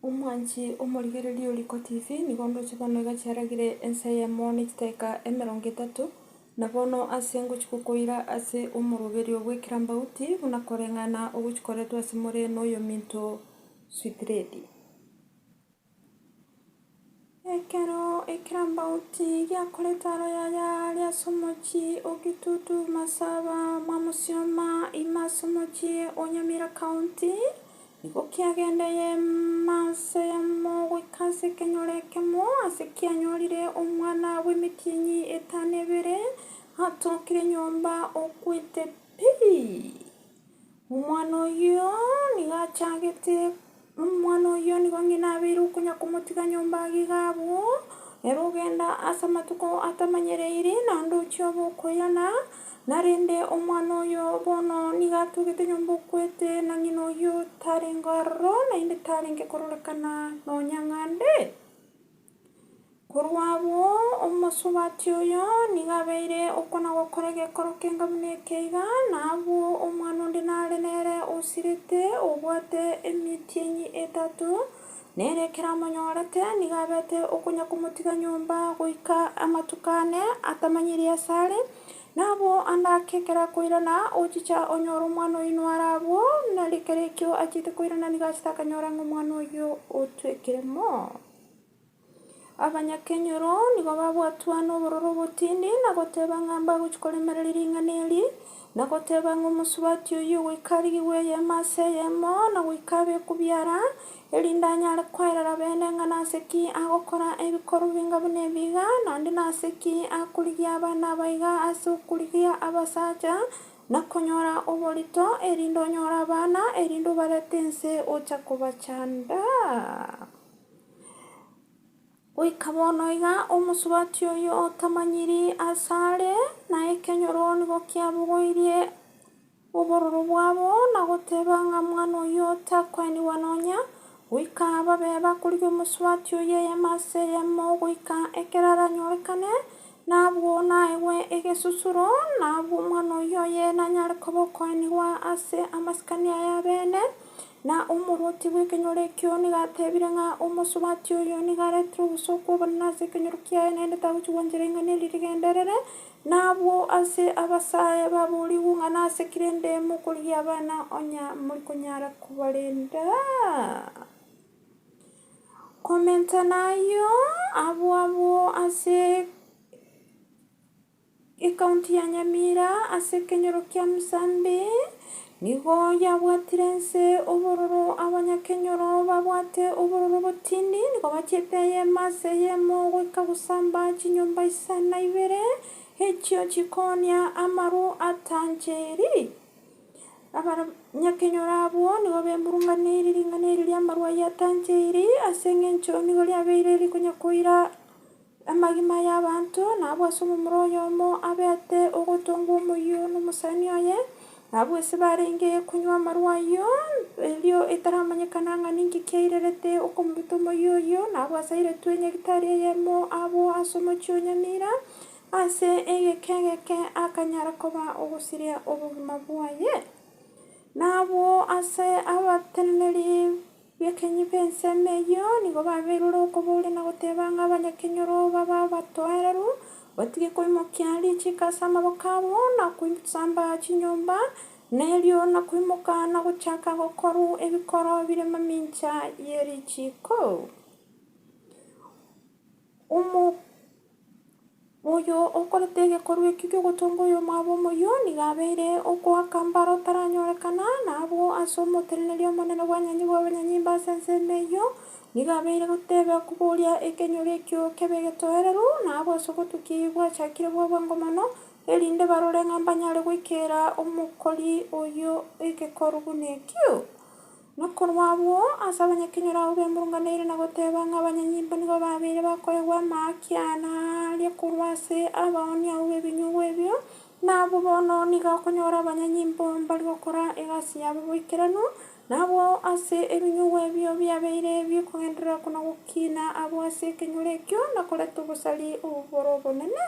Omwanchi omorigereria o Riiko TV, nigo ndoche bono iga chiaragire ensa eyemo ne chidaeka emerongo etato, na bono ase ngochia gokoira ase omoroberio bw'ekerambauti buna koreng'ana ogochikoretwe ase more noyominto Switiredi. Ekero ekirambaoti giakorete aro yaya are ase omochie o Kitutu, Masaba, Mwamusioma, ime ase omochie o Nyamira County, nigo kiagendeye manse yamo goika ase ekenyoro ekemo ase kianyorire omwana bw'emetienyi etano ebere atokire nyomba okwete pi. Omwana oyio nigo achagete, omwana oyio nigo onye nabeire okonya komotiga nyomba iga iga abwo, ere ogenda ase amatuko atamanyereire, naende ochia obe okoyana, na rende omwana oyo bono nigo atugete nyomba okwete, na ng'ina oyio tarenge aroro, naende tarenge kororekana nonya ng'a nde. Korwa abwo, omosubati oyo nigo abeire okwana gokora egekoro kenga buna eke iga, na abwo omwana onde nare nere osirete, obwate emitienyi etato, na ere ekero amonyorete, nigo abete okonya komotiga nyomba goika amatuko ane atamanyiri ase are. Na abwo ande ake ekero akoirana, ochicha onyore omwana oyio noare abwo, nari ekero ekio achiete koirana nigo achete akanyora ng'a omwana oyio otwekire moo. Abanyakenyoro nigo babwatwa nobororo obotindi na goteba ng'a mbagochia koremereria ring'ana eri, na goteba ng'a omosubati oyio goika arigigwe eyemo ase eyemo na goika abe okubiara, erinde anyare koerera bene ng'a nase ki agokora ebikorwa binga buna ebi iga, naende nase ki akorigia abana abaiga ase okorigia abasacha na konyora oborito, erinde onyore abana, erinde obarete inse ocha kobachanda. Goika bono iga omosubati oyio otamanyiri aase are, na ekenyoro nigo kiabogoirie obororo bwabo, na goteba ng'a mwana oyio takoenigwa nonya, goika babe bakorigia omosubati oyio eyemo ase eyemo goika ekero aranyorekane, na abwo naegwe egesusuro, na abwo omwana oyio oye nanyare koba okoenigwa ase amasikani aye abene. Na omorwoti bw'ekenyoro ekio nigo ateebire ng'a omosubati oyo nigo aretire obosooku obonene ase ekenyoro kiaye, naende tagochigwa nchera ing'ana eri rigenderere, na abwo ase abasae baboorigwe ng'a nase ki rende mokorigia abana onye mori konyara kobarenda? Komenta nayio abwo abwo ase. Ecounty ya Nyamira ase ekenyoro kia Musambi nigo yabwatire nse obororo abanyakenyoro babwate obororo botindi nigo bachiete eyemo ase eyemo goika gosamba chinyomba isa na ibere echio chikoonia amaru atanchiri. Abanyakenyoro abwo nigo bemurunganeirie ring'ana erio ri'amaru ayio atanchiri ase engencho nigo riabeire rikonya koira. Amagima y'abanto nabwe ase omomura oyomo abete ogotongwa omoyio nomosani oye, nabwo ase barenge konywa amarwa ayio, erio etaramanyekana ng'a ninki kiairerete okomoruta omoyio oyio, nabwo ase airetwe nyagitari eyemo abwo ase omochie o Nyamira, ase egeka egeke akanyara koba ogosiria obogima bwaye. Nabwo ase abateneneri. Bekenyi b'ensemo eyio nigo babeirwe okobooria na goteba ng'a abanyakenyoro babe abatoereru, batige koimokia richiiko ase amaboko abo, na koisamba chinyomba, na erio na koimoka na gochaka gokorwa ebikoro bire mamincha ye richiiko. Omo oyo okorete egekorwa ekio gi'ogotonga oyomwabo omoyio nigo abeire ogoaka mbaro otaranyorekana, na abwo ase omoteneneri omonene bw'abanywanyi bw'abanyanyimba ase ensemo eyio nigo abeire goteba koboria ekenyoro ekio kebe egetoereru, na abwo ase ogotukia eyio gwachakire bwa bwango mono, erinde barore ng'a mbanyare goikera omokori oyio egekorwa buna ekio. Na korwa abwo ase abanyakenyoro abwo bemurunganaine na goteba ng'a abanyanyimbo nigo babeire bakoegwa amakiana aria korwa ase abaoni abwo b'ebinyugwa ebio, na abwo bono nigo akonyora abanyanyimbo mbari gokora egasi yabo boikeranu, na abwo ase ebinyugwa ebio biabeire bikogenderera kona gokiina abwo ase ekenyoro ekio na koreta obosari obwo bore obonene.